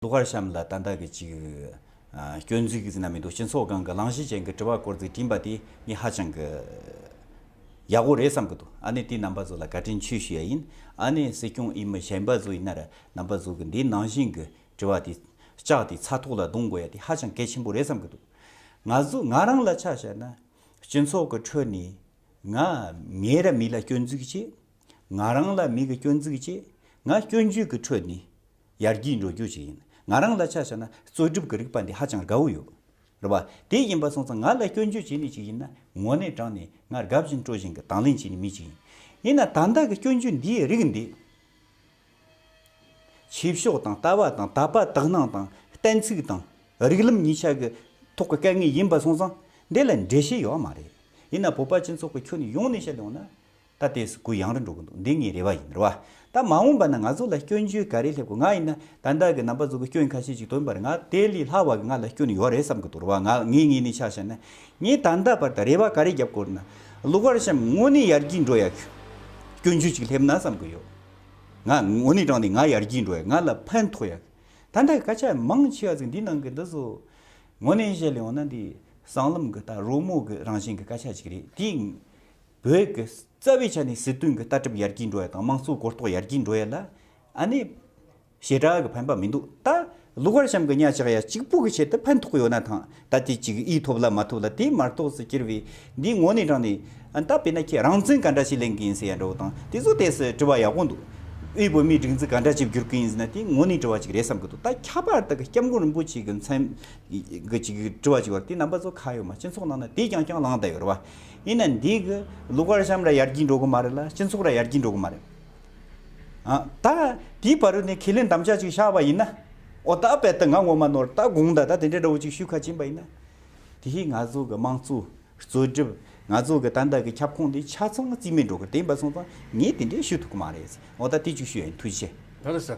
གླུ་གར་གཤམ་ལ་ཏན་ཏན་གྱི་གཅིག། སྐྱོན་འཛུགས་རྣམས་མི་འདུག་སྤྱི་ཚོགས་སྒང་གི་གླང་གཞི་ཅན་གྱི་དྲི་བ་སྐོར་ཚིག་བྲིས་པ་དེ་གཉིས་ཧ་ཅང་གི། ཡག་པོ་རེད་བསམ་གྱི་འདུག་ཨ་ནི་དེ་རྣམ་པ་ཚོ་ལ་བཀའ་དྲིན་ཆུ་ཞུ་ཡ་ཡིན། ཨ་ནི་སྲིད་སྐྱོང་ཨི་མི་གཞན་པ་ཚོ་ཡིན་ན་རྣམ་པ་ཚོ་གི་འདི་ནང་བཞིན་གྱི་དྲི་བ་དེ། ལྕགས་དེ་ཚ་ཐོག་ལ་རྡུང་དགོས་ཡ་དེ་ཧ་ཅང་གལ་ཆེན་པོ་རེད་བསམ་གྱི་འདུག་ང་ཚོ་ང་རང་ལ་ཆ་བཤད་ན། སྤྱི་ཚོགས་ཀྱི་ཁྲོད་ནས། ང། ངའི་ར་མི་ལ་སྐྱོན་འཛུགས་བྱེད། ང་རང་ལ་མི་གི་སྐྱོན་འཛུགས་བྱེད། ང་སྐྱོན་བརྗོད་ཀྱི་ཁྲོད་ནས། ཡར་རྒྱས་འགྲོ་རྒྱུ་ཞིག་ཡིན། ང་རང་ལ་ཆ་བཞག་ན་རྩོད་སྒྲུབ་ཀྱི་རིག་པ་འདི་ཧ་ཅང་དགའ་བོ་ཡོད། རེད་པ། དེ་ཡིན་པ་སོང་ཙང་ང་ལ་སྐྱོན་བརྗོད་བྱེད་ནུས་ཞིག་ཡིན་ན་ངོ་ནས་དྲངས་ནས་ང་དགའ་བཞིན་སྤྲོ་བཞིན་གྱི་དང་ལེན་བྱེད་ནུས་མི་ཞིག་ཡིན། ཡིན་ན་ད་ལྟ་གི་སྐྱོན་བརྗོད་འདིའི་རིགས་འདི། ཆོས་ཕྱོགས་དང་ལྟ་བ་དང་དད་པ་དག་སྣང་དང་གཏན་ཚིགས་དང་རིགས་ལམ་གཉིས་ཆ་གི་ཐོག་གི་སྐད་ངན་ཡིན་པ་སོང་ཙང་འདི་ལ་འགྲེལ་བཤད་ཡོད་མ་རེད། ཡིན་ན་བོད་པ་སྤྱི་ཚོགས་ཀྱི་ཁྱོན་ཡོངས་ནས་བཤད་ཡོང་ན། ད་ལྟའི་སུ་གུ་ཡང་རུ་འགྲོ་གི་འདུག་འདི་ངའི་རེ་བ་ཡིན་རེ་བ་ད་མ་འོངས་པ་ན་ང་ཚོ་ལ་སྐྱོན་བརྗོད་ག་རེ་སླེབས་དགོས་ང་ཡིན་ན་ད་ལྟ་གི་རྣམ་པ་ཚོ་གི་སྐྱོན་ཁ་ཤས་ཅིག་དོན་པར་ང་དེ་ལས་ལྷག་བ་གི་ང་ལ་སྐྱོན་ཡོད་རེད་བསམ་གི་འདུག་རེ་བ་ང་ངའི་ངེས་ནས་ཆགས་བྱས་ན་ངས་ད་ལྟ་བར་དང་རེ་བ་ག་རེ་བརྒྱབ་སྐོར་ན་གློ་གར་གཤམ་དངོས་ནས་ཡར་རྒྱས་འགྲོ་ཡག་གི་སྐྱོན་བརྗོད་ཅིག་སླེབས་ན་བསམ་གི་ཡོད་ང་དངོས་གནས་དྲང་ནས་ང་ཡར་རྒྱས་འགྲོ་ཡག་ང་ལ་ཕན་ཐོགས་ཡག་ད་ལྟ་གི་སྐད་ཆ་མང་ཆེ་བ་ཚིག་འདིའི་ནང་གི་འདི་ཚོ་དངོས་གནས་བཤད་ལ་ཡོང་ན་འདི་སྲང་ལམ་གི་ད་རོལ་མོ་གི་རང་བཞིན་གི་སྐད་ཆ་ཅིག་རེད་དེ་བོད་ཀྱི་རྩ་བའི་ཆ་ནས་སྲིད་དོན་གྱི་ལྟ་གྲུབ་ཡར་རྒྱས་འགྲོ་ཡ་དང་དམངས་གཙོའི་གོ་རྟོགས་ཡར་རྒྱས་འགྲོ་ཡ་ལ་ཨ་ནི་ཞེ་དྲག་གི་ཕན་པ་མི་འདུག་ད་ལུག་བར་ཤམ་གྱི་གཉའ་ཆག་ཡ་གཅིག་པུ་གི་ཆེད་དུ་ཕན་ཐོགས་ཡོད་ན་ཐང་ད་དེ་གཅིག་གིས་ཐོབ་ལ་མ་ཐོབ་ལ་དེའི་མར་ཐོགས་སུ་གྱུར་བའི་འདིའི་ངོ་ནས་དྲངས་ནས་ད་བས་ན་ཁྱེད་རང་ཚོས་ག་འདྲ་ཞིག་ལེན་གི་ཡིན་ཟེར་ཡ་འདྲ་བོ་དང་དེ་ཚོ་དེ་སྲིད་དྲི་བ་ཡག་པོ་འདུག་དབུས་བོད་མིའི་སྒྲིག་འཛུགས་ག་འདྲ་ཞིག་བསྒྱུར་གི་ཡིན་ཟེར་ན་དེའི་ངོ་ནས་དྲི་བ་ཅིག་རེད་བསམ་གི་འདུག་ད་ཁྱད་པར་དུ་སྐྱབས་མགོན་རིན་པོ་ཆེ་གི་མཚན་གྱི་ཅིག་དྲི་བ་ཅིག་ཡོད་དེ་རྣམ་པ་ཚོ་ཁ་ཡོད་མ་སྤྱི་ཚོགས་ནང་ན་དེས་ཀྱང་ཀྱང་ལངས་བསྡད་ཡོད་རེད་བ། ཡིན་ན་འདི་གི་ལུག་བར་ཤམ་ར་ཡར་གྱིས་འགྲོ་གི་མ་རེད་ལ་སྤྱི་མཚུགས་ར་ཡར་གྱིས་འགྲོ་གི་མ་རེད། ད་དེའི་བར་ནས་ཁས་ལེན་དམ་བཅའ་ཅིག་བཞག་པ་ཡིན་ན། ཨོ་ད་བལྟ་ང་ངོ་མ་ནོར་ད་དགོངས་ད་ད་དེ་འདྲའི་འདྲ་བོ་ཅིག་ཞུས་ཁ་བྱིན་པ་ཡིན་ན། དེ་ཧི་ང་ཚོ་གི་དམངས་གཙོ་རྩོད་སྒྲུབ་ང་ཚོ་གི་ཏན་ཏན་གི་ཁྱབ་ཁོངས་དེ་ཆ་ཚང་རྩིས་མེད་འགྲོ་གི་དེ་ཡིན་པ་སོང་ཙང་ངས་དེ་འདྲའི་ཞུ་ཐུབ་ཀི་མ་རེད། ཨོ་ད་དེ་ཅིག་ཞུས་ཡ་ཡིན་ཐུགས་རྗེ་ཆེ།